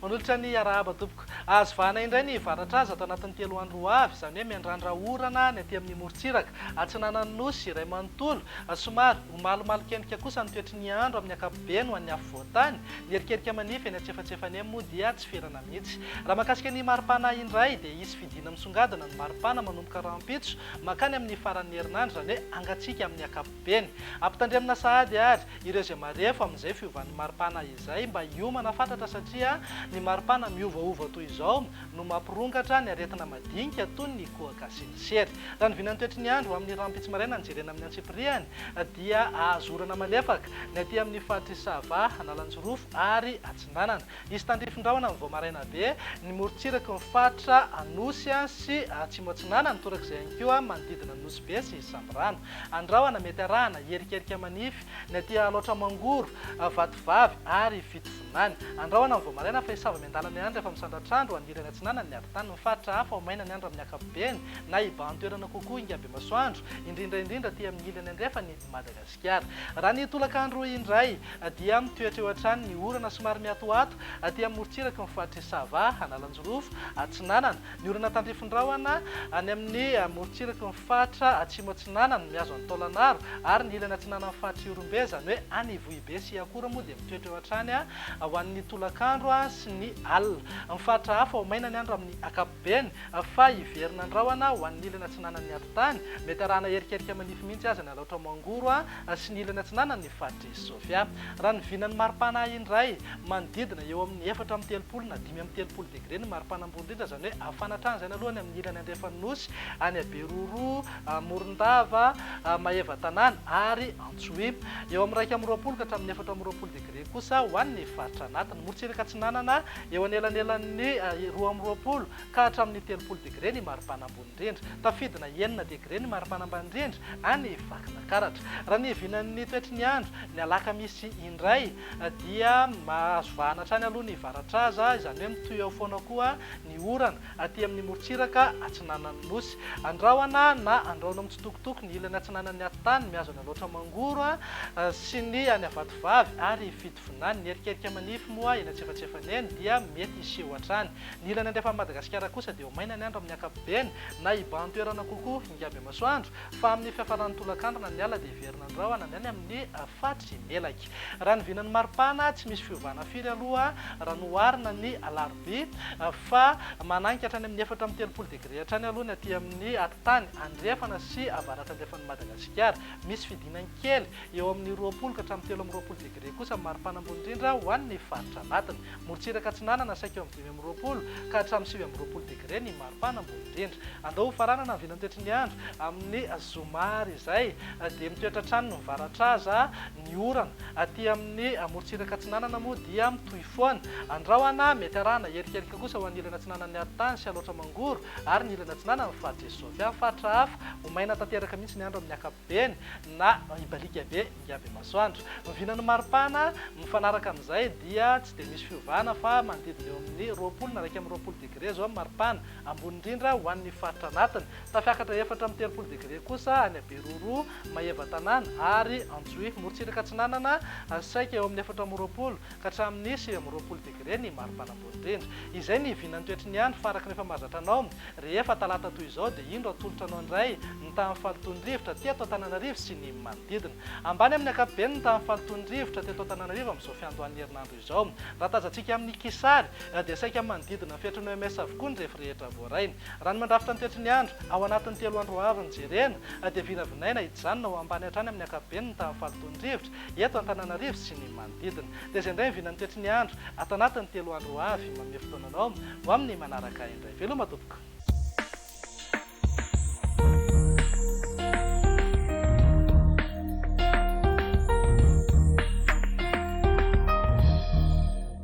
Manolotra ny arahaba tompoko. Azo vahana indray ny varatraza ato anatin'ny telo andro ho avy, izany hoe miandrandra orana ny aty amin'ny morontsiraka, atsinanan'ny Nosy iray manontolo. Somary ho malomalonkendrika kosa ny toetry ny andro amin'ny ankapobeny ho an'ny afovoan-tany. Ny erikerika manify eny antsefatsefany eny moa dia tsy ferana mihitsy. Mihitsy. Raha mahakasika ny maripana indray dia hisy fidiana misongadina ny maripana manomboka rahampitso mankany amin'ny faran'ny herinandro, izany hoe hangatsiaka amin'ny ankapobeny. Ampitandremina sahady àry ireo izay marefo amin'izay fiovan'ny maripana izay mba hiomana fatratra satria ny maripana miovaova toy izao no mampirongatra ny aretina madinika toy ny kohaka sy ny sery. Raha ny vinan'ny toetry ny andro amin'ny rahampitso maraina no jerena amin'ny antsipiriany dia hahazorana malefaka ny aty amin'ny faritr'i Sava, Analanjirofo ary Atsinanana. Hisy tandrifin-drahona vao maraina be ny morontsiraky ny faritra Anosy sy Atsimo Atsinanana, torak'izay ihany koa manodidina ny Nosy Be sy Sambirano. Andrahona mety arahana hierikerika manify ny aty Alaotra Mangoro, Vatovavy ary Fitovinany. Andrahona vao maraina fa hisava miandalana ihany rehefa misandratr'andro ho any ilany atsinanan'ny ady tany ny faritra hafa ho maina ny andro amin'ny ankapobeny na hibahan-toerana kokoa hingam-be masoandro, indrindra indrindra aty amin'ny ilany andrefan'i Madagasikara. Iar. Raha ny tolakandro indray dia mitoetra eo hatrany ny orana somary miatoato aty amin'ny morontsiraky ny faritr'i Sava, Analanjirofo, Atsinanana. Ny orana tandrifindrahona any amin'ny morontsiraky ny faritra Atsimo Atsinanana, mihazo an'i Taolagnaro ary ny ilany atsinanan'ny faritr'i Ihorombe, izany hoe any Ivohibe sy Iakora moa dia mitoetra eo hatrany ho an'ny tolakandro sy ny alina. Amin'ny faritra hafa ho maina ny andro amin'ny ankapobeny. Beny, fa hiverina an-drahona ho an'ny ilany atsinanan'ny ati-tany, mety arahana erikerika manify mihitsy aza ny alaotra Mangoro sy ny ilany atsinanan'ny faritr'i Sofia. Raha ny vinan'ny maripana indray, manodidina eo amin'ny efatra amby telopolo na dimy amby telopolo degre ny maripana ambony indrindra, izany hoe hafana hatrany izany aloha any amin'ny ilany andrefan'ny Nosy, any Aberoro, Morondava, Maevatanàna ary Antsohihy. Eo amin'ny iraika amby roapolo ka hatramin'ny efatra amby roapolo degre kosa ho an'ny faritra anatiny. Morotsiraka atsinanana Eo anelanelan'ny roa amby roapolo ka hatramin'ny telopolo degre ny maripana ambony indrindra. Tafidina enina degre ny maripana ambany indrindra any Vakinankaratra. Raha ny vinan'ny toetry ny andro, ny alakamisy indray dia mahazo vahana hatrany aloha ny varatraza, izany hoe mitohy eo foana koa ny orana aty amin'ny morontsiraka atsinanan'ny Nosy. Andrahona na andrahoina mitsitokotoko ny ilany atsinanan'ny atitany, mihazona laotra mangoro sy ny any Avatovavy ary Vinany, Ny erikerika manify moa eny antsefatsefany eny dia mety hiseho hatrany. Ny ilany andrefan'i Madagasikara kosa dia ho maina ny andro amin'ny ankapobeny, na hibahan-toerana kokoa ingaby masoandro, fa amin'ny fiafaran'ny tolakandro na ny alina dia hiverina ny rahona ny any amin'ny faritry Melaky. Raha ny vinan'ny maripana, tsy misy fiovana firy aloha raha noharina ny alarobia, fa mananika hatrany amin'ny efatra amby telopolo degre hatrany aloha ny aty amin'ny atitany andrefana sy avaratrandrefan'i Madagasikara. Misy fidinany kely Eo amin'ny roapolo ka hatramin'ny telo amby roapolo degre kosa ny maripana ambony indrindra ho an'ny faritra anatiny. Morontsiraka Atsinanana saika eo amin'ny dimy amby roapolo ka hatramin'ny sivy amby roapolo degre ny maripana ambony indrindra. Andao hofaranana ny vilany toetry ny andro amin'ny zoma ary izay dia mitoetra hatrany ny mivaratra aza ny orana. Aty amin'ny morontsiraka atsinanana moa dia mitohy foana. Andrahona mety arahana herikelika kosa ho an'ny ilany atsinanan'ny arintany sy Alaotra Mangoro ary ny ilany atsinanan'ny faritra Isovy. Amin'ny faritra hafa, ho maina tanteraka mihitsy ny andro amin'ny ankapobeny. Eny, na hibalika be ingaby masoandro. Vina ny maripana, mifanaraka amin'izay dia tsy dia misy fiovana fa manodidina eo amin'ny roapolo na iraika amby roapolo degre izao ny maripana, ambony indrindra ho an'ny faritra anatiny. Tafiakatra efatra amby telopolo degre kosa any Beroro, Maevatanàna ary Antsohihy. Morontsiraka Atsinanana, saika eo amin'ny efatra amby roapolo ka hatramin'ny sivy amby roapolo degre ny maripana. Indrindra. Izay ny hivinan'ny toetry ny andro faraky rehefa mahazatra anao. Rehefa talata toy izao dia indro atolotra anao indray ny tahan'ny fahalotoan'ny rivotra teto Antananarivo sy ny manodidina. Ambany amin'ny ankapobeny ny tahan'ny fahalotoan'ny rivotra teto Antananarivo amin'izao fiandohan'ny herinandro izao. Raha tazantsika amin'ny kisary dia saika manodidina ny fetrin'ny OMS avokoa ny refy rehetra voaray. Raha ny mandrafitra ny toetry ny andro ao anatin'ny telo andro ho avy no jerena dia vinavinaina hijanona ho ambany hatrany amin'ny ankapobeny ny tahan'ny fahalotoan'ny rivotra eto Antananarivo sy ny manodidina. Dia izay indray ny vinan'ny toetry ny andro ato anatin'ny telo andro ho avy. Manome fotoana anao ho amin'ny manaraka indray. Veloma tompoko.